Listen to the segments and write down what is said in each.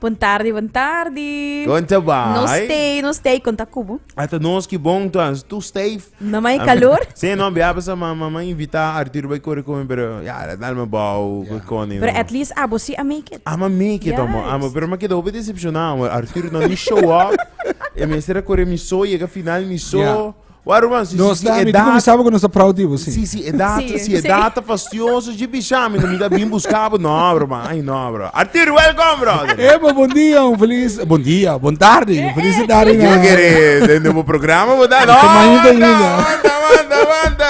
Bon tardi, bon tardi. Kon ta bai? No stay, no stay, kon ta kubu. Ata nos ki bon tu as tu stay. No mai kalor. Se no bia pasa ma ma ma invita Arturo bai kore kome pero ya dal me bou ko koni. Pero at least abo si a make it. Ama make it amo, amo pero ma keda hopi decepciona amo Arturo no ni show up e mester a kore mi so yega final mi so. Waruman, si, si, si e data... Mi sabo ku nos ta proud di bo, si. Si, si e data, si e data fastioso, ji bisha mi, mi ta bin buska bo. No, bro, man, ay no, bro. Artur, welkom, bro. Epa, bon dia, un feliz, bon dia, bon tarde, un feliz tarde. Yo kere, den de bo programa, bo ta, no, wanta, wanta, wanta, wanta.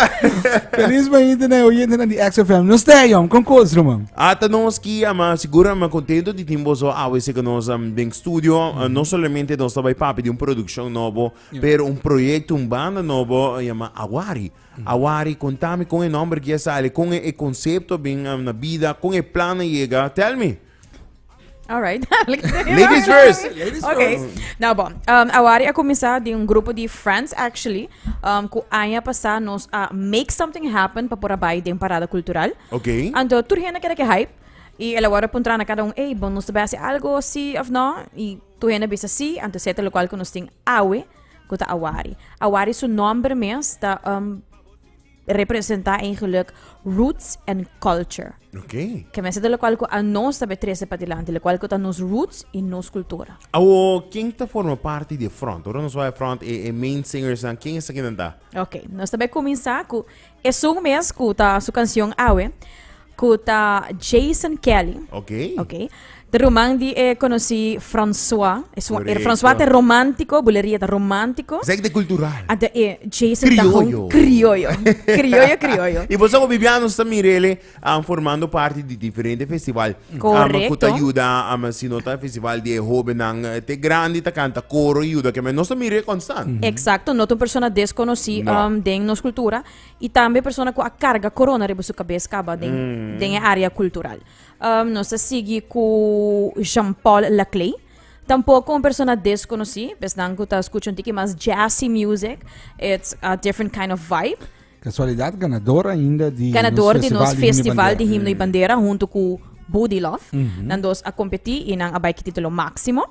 Feliz mañita na oyente na di XFM. Nos te, jom, kon kos, man. Ata nos ki, ama, segura, man, contento di timbo so, awe, se ka nos, um, den studio, uh, no solamente nos ta bai papi di un production nobo, Pero un proyecto, un banda nobo yama Awari. Awari, contame con e nomber kia sale, con e concepto bin na bida, con e plan na yega. Tell me. All right. Ladies first. Ladies Ok, first. nou bon. Um, awari a comenzá di un grupo di friends, actually, um, cu aña pasá nos a make something happen pa por a bai den parada cultural. Ok. Anto, tur hende keda ke hype. Y el awor a puntra na cada un, ey, bon, nos ta bai haci algo, sí of no? Y Tur hende a bisa sí, anto seta lokual ku nos tin awe ku ta awari. Awari su nòmber mes ta um, representá eigenlik roots and culture. Ok. Ke men seta lokual ku a nos ta be trese padilanti, lokual ku ta nos roots i nos kultura. Awo, ken ta forma parti di e front? Ora nos bai e front, e e main singersnan, ken esaki nan ta? Ok, nos ta bai kuminsá ku Esun mes cu ta su cancion awe, cu ta Jason Kelly. Ok. Ok. Te ruman di e conocí François. Esun, er Correcto. François te romántico, bulería te romántico. Zeg de cultural. Ante e Jason ta Criollo. hon criollo. Criollo, criollo. Y vos amo Bibiano está mirele. An formando parti di diferente festival. Correcto. Am cu ta yuda, am si no ta festival di e hobennan, eh, te grandi ta canta coro y yuda keme. Nos ta mira e constant. Exacto, no ta un persona desconoci No. um, den nos cultura y tambe persona cu a carga corona riba su cabes caba den, den e area cultural. Um, nos ta sigui cu Jean Paul Laclay, tampoco un persona desconoci, pa esnan cu ta scucha un tiki mas jazzy music, it's a different kind of vibe. Casualidad ganador ainda di Ganador di nos Festival di Himno y Bandera hunto cu Buddy Love. Nan dos a competi y nan a bay ki titulo maximo.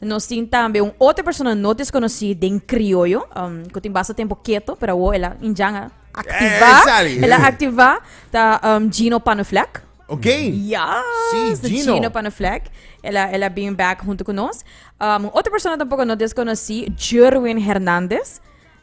Nos tin tambe un otro persona no desconoci den Criollo, cu tin basta tempo keto, pero awo el a indjan a activa. Ey, sali. El a activa. Ta Gino Panuflek. Ok. Yes, ta Gino Panuflek. El a, el a bin back hunto cu nos. Un otro persona tampoco no desconoci, Jerwin Hernandez.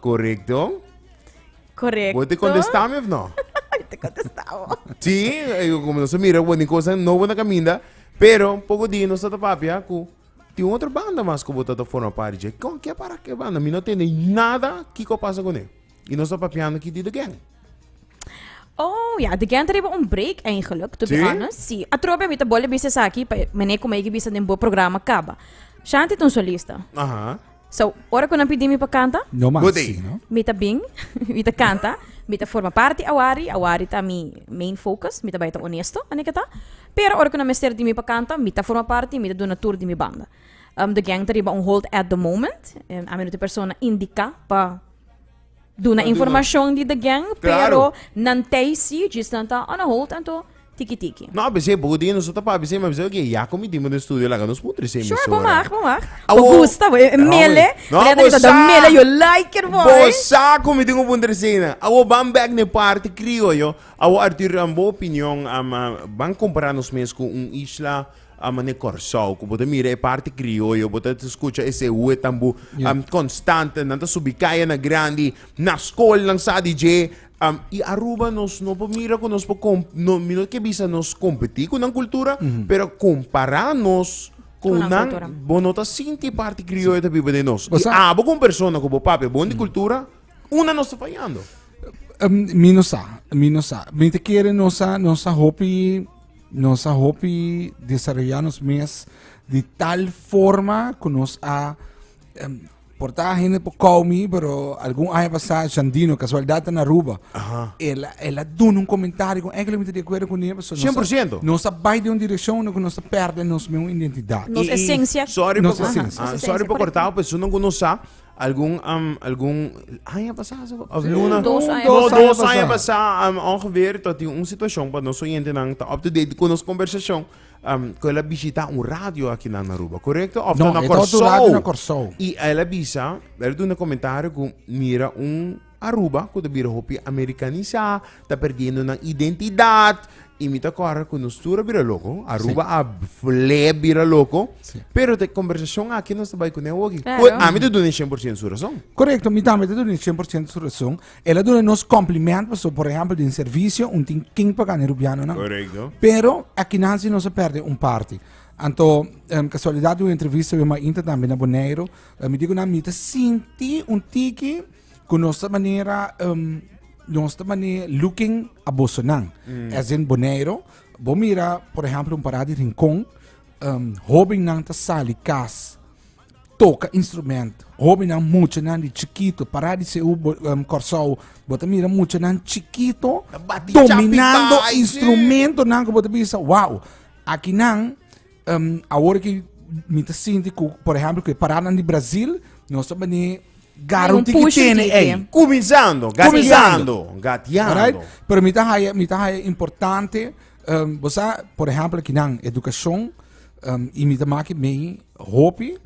Correcto. Correcto. Bo te contesta mi of no? te contesta bo. Sí, eh, como no se mira, bueno, cosa no buena caminda, pero poco día no está papia cu tiene otra banda más que bota te forma parte je. Con qué para qué banda? Mi no tiene nada que co pasa con él. Y no está papiando que dit again. Oh, ja, de Gent hebben een break eigenlijk, to be Sí? honest. Sí. Atrobe mi te bolle bisa saki, pa meneer kom ik bisa den bo programma kaba. Shanti ton solista. Ajá. So, ora cu nan pidi mi pa canta. No mas Budi. sí, no? Mi ta bin, mi ta canta, mi ta forma parti awari, awari ta mi main focus, mi ta bai ta honesto, an'e ke ta. Pero ora cu nan mester di mi pa canta, mi ta forma parti y mi ta duna tur di mi banda. Um, the gang ta riba un hold at the moment, em, ami no ta e persona indica pa Duna informashon di The Gang, pero nan tei si, djis nan ta on hold, anto tiki tiki. No, besé, bo di nos ta pa besé, ma besé, oké, ya komi dimo den studio laga nos mutri se Sure, bo mag, bo mag. Bo gusta, bo mele. No, bo sa. Mele, yo like it, boy. Bo sa komi di un punter se na. Awo ban bek ne parti krioyo. Awo Artur, an bo opinion, am, am, ban kompara nos mes ku un isla a mane Kòrsou ku bo ta mira e parti krioyo bo ta skucha esei hu e tambu konstante nan ta subi kayanan grandi na skolnan sa di dje i Aruba nos no por mira ku nos por mi no ke bisa nos kompetí ku nan kultura pero kompará nos ku nan bo no ta sinti e parti krioyo ta biba den nos i abo kon persona ku bo pape a bon di kultura una nos ta fayando mi no sa mi no sa mi ta kere nos a nos a hopi. Nos a hopi desarrolla nos mes di tal forma ku nos a em, porta hende por kou mi, pero algun aña pasá Shandino, kasualdat na Aruba. Aha. El el a dun un komentario ku eigenlijk mi ta de acuerdo ku ni, so nos a- 100%. Nos a bai de un direkshon ku nos a perde nos mi un identidad. Nos esencia. Sorry Nos por, esencia. ah, Nos esencia, sorry por correcto. cortar, pero sunan con nos sa, Algun, um, algun aña pasá, zo? Of Sí, luna? dos aña No, pasá. dos aña pasá, um, ongeveer, tot in un situacion pa nos oyentenan ta up to date con nos conversacion, um, cu el a bishita un radio aki nan na Aruba, correcto? Of No, ta na e ta otro radio Corsou. na Corsou. Y el a bisa, el a duna comentario cu mira un Aruba, ku ta bira hopi amerikanisá, ta perdiendo nan identidat. I mi ta kòrda ku nos tur a bira loko. Aruba a fulé bira loko. Pero ta e kombersashon akí nos ta bai kuné woki. Ku Claro. ami ta duna e shen por shent su rason. Korekto, mi tambe ta duna e shen por shent su rason. El a duna nos kòmpliment, pasobra por ehèmpel den servisio un tin kin pagá na e rubianonan. Korekto. Pero akinan si nos a pèrdè un parti. Anto em kasualidat di un entrevista wi a Mainta tambe na Boneiro, mi di ku nan mi ta sinti un tiki ku nos ta manera nos ta manera looking abosonan as in Boneiru bo mira por ehempel un pará di Rincon hobennan ta sali kas toka instrumento hobennan muchanan di chikito pará di seu Kòrsou bo ta mira muchanan chikito dominando instrumentonan ku bo ta bisa wao akinan Um, awor ki mi ta sinti ku, por ehempel, ku e paranan di Brazil, nos ta bani garanti ki tene ei. Kuminsando, gatiando, gatiando. Alright? Pero mi ta haya, mi ta haya importante, um, bosa, por ehempel, kinan, edukashon, um, i mi ta maki mei hopi,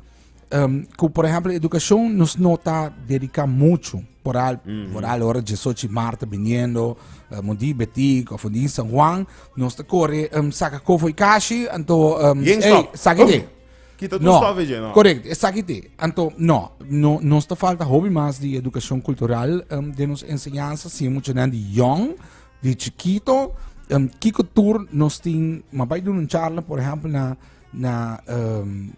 Um, cu, por ejemplo, educación nos no está dedicado mucho. Por al, mm -hmm. por al hora de Sochi Marta viniendo, uh, Mundi Betik, of Mundi San Juan, nos te corre, um, saca cofo y cashi, anto, um, hey, saca oh. Kita no, stove je, no. Correct, esaki te. Anto, no, no, nos te falta hobby mas di educación cultural, um, de nos enseñanza, si mucho nan di young, di chiquito, um, kiko tour nos tin, ma bai doen un charla, por ejemplo, na na um,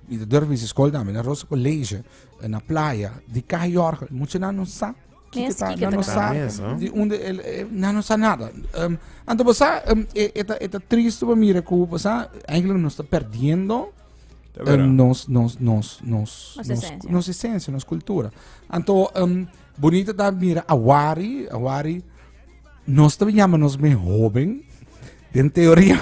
mi durf mi school dame na Rosa College eh, na playa di Kai Jorge mucho na no sa Kike ta, na no sa di unde el eh, na no sa nada um, anto bosa um, eta eta triste pa mira ku bosa eigenlijk nos está perdiendo um, nos nos nos nos nos esencia nos esencia nos cultura anto um, bonita da mira awari awari nos também chama nos me joven den teoria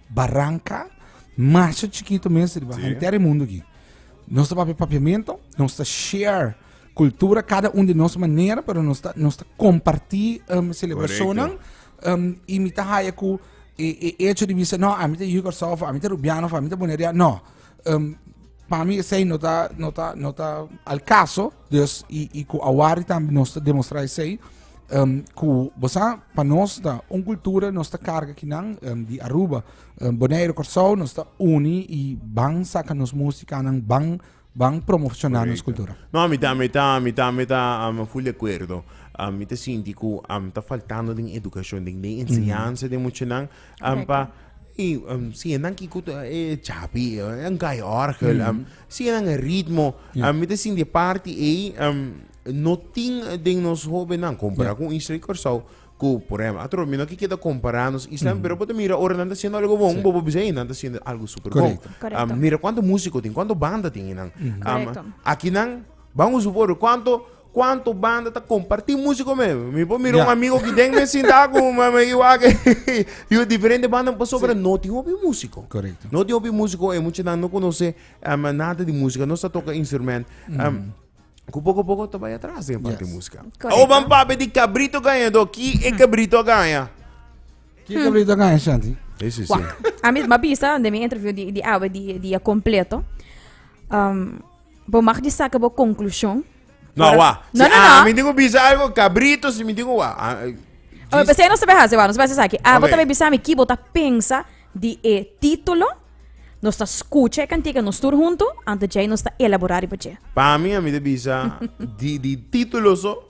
Baranka masha chikito mes riba sí. henter e mundo ki. Nos ta papia papiamento, nos ta share cultura, cada un de nos manera, pero nos ta, nos ta comparti um, celebracionan um, y mi ta haya cu e, e hecho de bisa, no, a mi ta Yu Corsao, a mi ta Rubiano, a mi ta Bonaria, no. Um, pa mi sei no ta, no ta, no ta al caso, Dus i i ku awari tambe nos ta demostrá esei ku bo sa pa nos ta un kultura nos ta karga kinan di Aruba, Boneiru, Kòrsou nos ta uni i ban saka nos músikanan ban ban promocioná nos kultura. No, mi ta mi ta mi ta mi ta full di akuerdo. Mi ta sinti ku ta faltando den edukashon den den enseñansa den muchanan pa i si nan kiko e chapi e un kaiòrgel. Sigue nan e ritmo. Yeah. mi te sin de party ei um, no tin den nos hobennan comparado yeah. con Isla y Curaçao cu por ejemplo atro mi no que queda compararnos Isla mm -hmm. pero puedo mira ahora nan haciendo algo bon sí. bobo bisa nan haciendo algo super bon um, mira cuánto músico tin cuánto banda tin nan mm -hmm. um, aquí nan vamos supor cuánto Cuanto banda ta comparti musico me? Mi por mira un amigo ki den me sinta ku me me iwa ke yo diferente banda pa sobra no tin hopi musico. Correcto. No tin hopi musico e mucha nan no conoce um, nada di musica, no sa toca instrument. Um, ku poco a poco ta bai atrás den parte yes. musica. Correcto. O ban papi di cabrito gañador, ki e cabrito gaña? Ki cabrito gaña, Shanti? Sí, sí, sí. A mi ma bisa de mi interview di di awe di di completo. Um, Bo mag di saca bo conclusion. No, wa. No, no, no. Mi digo bisa algo cabrito, si mi digo wa. Oh, pues no sabe hacer, no sabe hacer aquí. Ah, okay. vos bisa mi kibo ta pensa di e título. Nos ta escucha e cantica, nos tur junto, antes de nos ta elaborar y pache. Pa mi, a mi te bisa, di, di título so,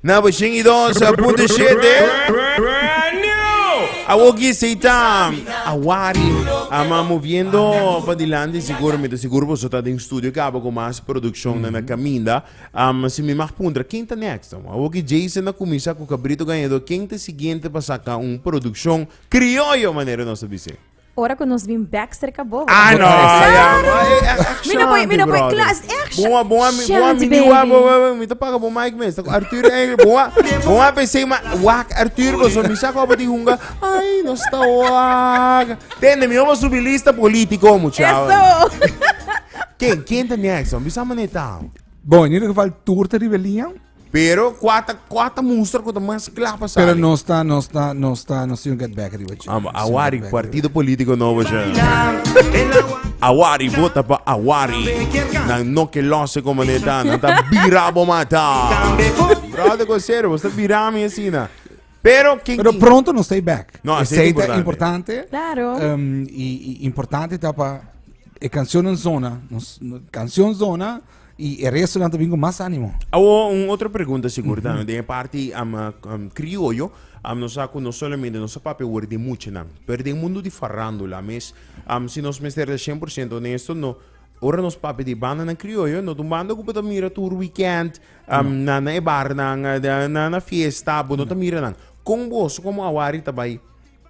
Na Boshin y Dos Punto Shete. Brand new! Awo ki esei ta awari, ama moviendo pa dilanti seguramente. Seguro boso ta den studio caba cu mas produccionnan na caminda. Am, si mi mag puntra, ken ta next? Am, Awo ki Jason a cuminsa cu Cabrito Gañador, ken ta siguiente pa saca un produccion crioyo, manera nos ta bizi? Ora cu nos bin back cerca bobo. Ah, no, ya. Mi no puedo, mi no puedo. Claro, es action. Boa, boa, mi, boa, Shit, mi baby. diwa, boa, boa, mi te paga boa mic mes. Tako Arthur eigenlijk, boa, boa pensé, maar wak Arthur, bozo, mi sa kopa di hunga. Ay, no sta wak. Tende, mi homo subi lista político, muchacho. Eso. Ken, ken te next, man? Bisa man e tao. Bon, in ieder geval, toer te rebelian. Pero kua ta kua ta muster ku ta mas kla pa sali? Pero nos ta nos ta nos ta nos tin get back riba che. Amba, awari, partido politico nobo cha. Awari, vota pa awari. Nan no ke lose como ne ta, nan ta bira bo mata. Brother Cosero, vos ta bira mi asina. Pero kin Pero kin- pronto nos stay back. No, E así sei ta importante. importante. Claro. Ehm, i, i importante ta pa e canción en zona, nos, no- canción zona Y e resto nan ta bin con más ánimo. Awo un otro pregunta sigur mm -hmm. den e parti um, um, criollo, um, nos saco no solamente nos papia word de mucho nan, pero den mundo di farándula mes, um, si nos mester de 100% honesto, no, ora nos papia di banda nan criollo, no un banda que mira tur weekend, um, no. na, na e bar nan, na, na fiesta, bo no ta mira nan. Con vos, como awari tabai?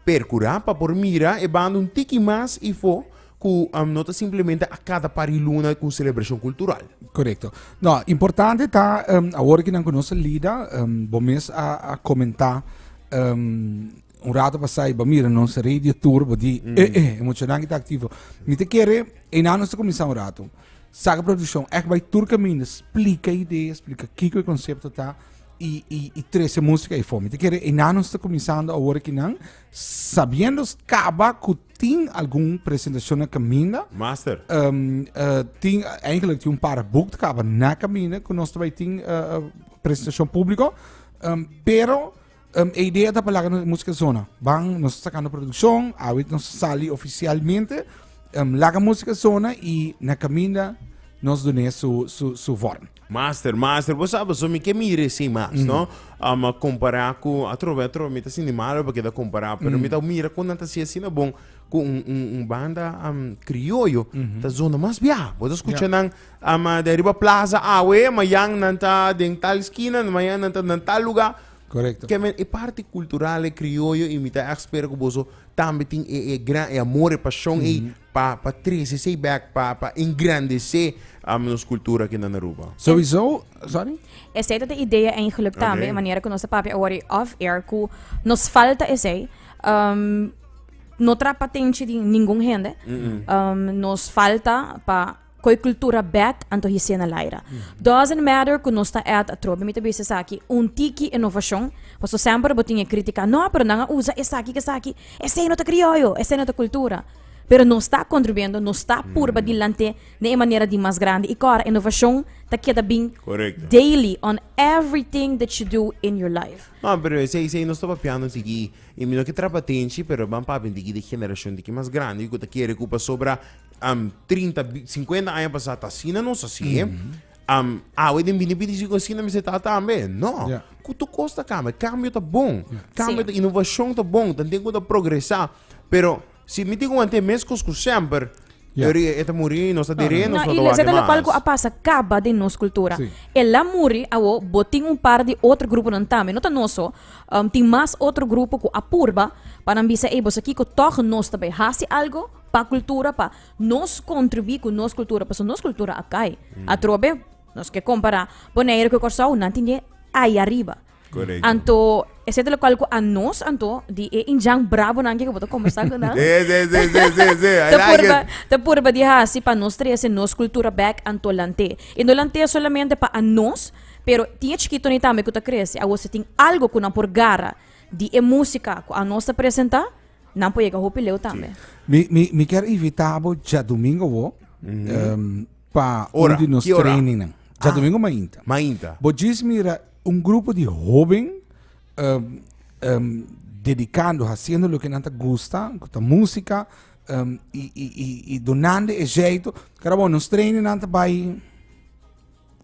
Percura pa por mira e banda un tiki mas ifo cu no ta simplemente a cada par di luna cu un celebracion cultural. Correcto. No, importante ta awor cu nan cu nos a lida, bo mes a comenta un rato pasai bo mira nos radio tour bo di eh eh e muchanan cu ta activo. Mi ta kere einan nos ta cuminsa un rato. Saca produccion ect bay tur caminda splica idea, splica kico e concepto ta. y, y, y trece música y fome. Te quiere, enanos está comenzando ahora que nan, sabiendo caba que tin algún presentación en caminda. Master. Um, uh, tin, eigenlijk tin un par boek caba na caminda que nos trae tin uh, uh, presentación público. Um, pero um, a idea da palabra música zona. Van, nos sacando producción, ahorita nos sale oficialmente. Um, laga música zona y na caminda nos doné su, su, su vorm. Master, master, bo sa paso mi ke mira esei mas, no? Um, a compará ku atrobe, atrobe, mi ta sindi malo pa keda compará, pero mi ta mira kon nan ta si asina bon ku un, un, un banda um, krioyo ta zona mas bia. Bo ta skucha Ja. nan um, ah, den riba plaza awe, mayan nan ta den tal skina, mayan nan ta nan tal lugá. Correcto. Ke men e parti kultural e krioyo i mi ta ègt spera ku boso tambe tin e, e gran, e amor, e pashon ei Pa pa trese esei bek pa pa engrandece nos cultura aki nan Aruba. Sowieso, sorry? Esei ta de idea eigenlijk tambe, okay. e manera ku nos ta papia awor off air ku nos falta esei. Um, no trap atenchi di ningun hende. Mm -mm. Um, nos falta pa Cu e cultura bek, anto hicié na Laira. Doesn't matter cu nos ta at atrobe, mi ta bisa esaki un tiki inovacion, pasobra semper bo tin e critica, no, pero nan a usa esaki cu esaki, esey no ta crioyo, esey no ta cultura. Pero nos ta contribuyendo, nos ta purba dilanté den e manera di mas grandi. I cora, inovacion ta keda bin daily on everything that you do in your life. No, pero esey, esey nos ta papiando tiki, i mi no ke traba atenshi, pero ban papia tiki di e generacion di ki mas grandi cu ta kere cu pasobra. um, 30, 50 aña pasá ta asina, nos así. Mm -hmm. um, awe den bini pidi si con asina mester ta tambe. No. Yeah. Kutu kos ta cambia. Cambio ta bon. Yeah. Cambio sí. ta innovación ta bon. Tan tengo ta progresar. Pero si mi tengo ante mes cos cu semper Yeah. Eri eta muri nos a dire nos no, no, no, no, palco a pasa caba de nos cultura. Sí. El a muri a wo botin un par de otro grupo nan tame. No ta noso, um, tin mas otro grupo ku apurba para bisa e bosa kiko toch nos tabe hasi algo pa cultura pa nos contribuí cu nos cultura pasobra nos cultura a cay atrobe nos ke compara Bonaire cu Corsou nan tin dje ay ariba Correcto. Anto, es het lo cual cu a nos anto di e injan bravo nan ke ku bo ta conversa cu nan. Sí, sí, sí, sí, sí, sí. I Te like purba, it. te purba di hasi pa nos trece nos cultura back anto lante. Y no lante solamente pa a nos, pero tin e chikito ni tambe ku ta crece. Awor si tin algo ku nan por gara di e música ku a nos ta presenta, Nan por yega hopi leu tambe. Mi, mi, mi ker invita bo domingo wo em, pa Ora, un di nos ki ora? training. nan. Ja Ah. domingo mainta. Mainta. Bo jis mira un grupo di hoben em, em, dedicando, haciendo lo que nan ta gusta, cu ta música, em, y, y, y, y donando e jeito. Cara bo, nos training nan ta bai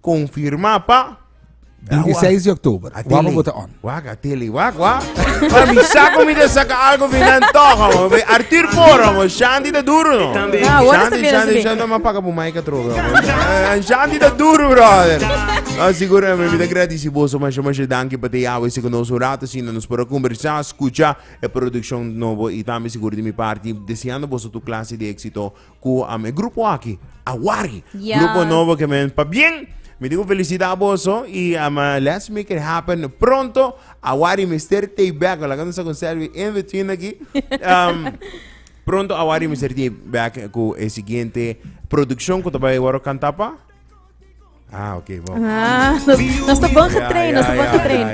Confirma pa. 26 di octuber. Wak bo ta on. Wak a tele. Wak wak. Pa mi sa ko mi ta saka algo binan toha bo. Be Arthur Poro bo. Shanti ta duro no. Ah, wak ta Shanti, Shanti, Shanti. No ma paga bo maika trobe. Eh, Shanti ta duro brother. No, seguro eh, mi ta agradeci boso masha masha danki pa te ya wese con nos un rato asina nos por a conversa, scucha e produccion nobo y tambe seguro di mi parti deseando boso tur clase di exito Cu am e grupo aki a wari. Yes. Grupo nobo que men pa bien. Mi digo felicidad boso y um, uh, let's make it happen pronto. A wari mister te back. Wala kan sa con Selvi in between aki. Um, pronto a wari mister te back cu e siguiente produccion cu ta bai waro cantapa. Ah, oké, okay, wow. Ah, nos, nos te bon getrain, nos te bon getrain.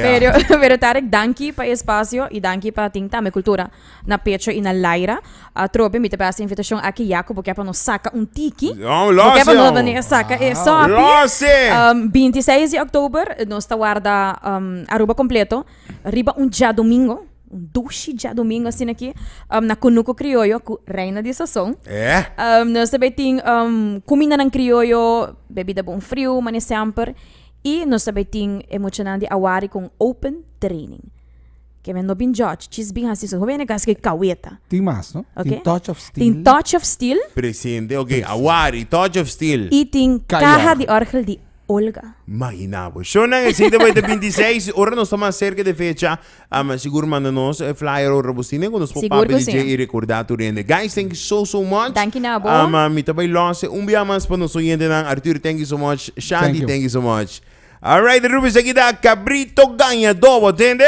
Pero, pero Tarek, danki pa espacio y danki pa ting tame cultura. Na pecho y na laira. A trobe, mi te pasa invitación aquí, Jaco, porque pa nos saca un tiki. No, lo Porque pa nos venir saca e sopi. Lo um, 26 de oktober, nos te guarda um, Aruba completo. Riba un ja domingo. Un dushi djadumingu asina aki na Kunuku Krioyo ku Reina di Sazon. Nos ta bai tin kumindanan krioyo, bebida bonfriu, mane semper. I nos ta bai tin e muchanan di awari ku un open training. Ke men no bin jòdj, djis bin hasi su. Hopi hende kase ke kaweta. Tin mas no? Oke. Tin Touch of Steel. Tin Touch of Steel. Presente, ok. Awari, Touch of Steel. I tin Caja di Orgel di Olga. Mahinabo. Shonnan esei ta bai ta binti seis, ora nos ta mas serka di e fecha. Am sigur manda nos e flyer ora bo sine ku nos por Sigur papia ku di si. dje i rekorda tur hende. Guys thank you so so much. Danki na bo. Am mi ta bai lòse un bia mas pa nos oyentenan. Arturo thank you so much. Shanti Thank you. thank you so much. Alright Rubies aki ta Cabrito Gaña Dobo tende.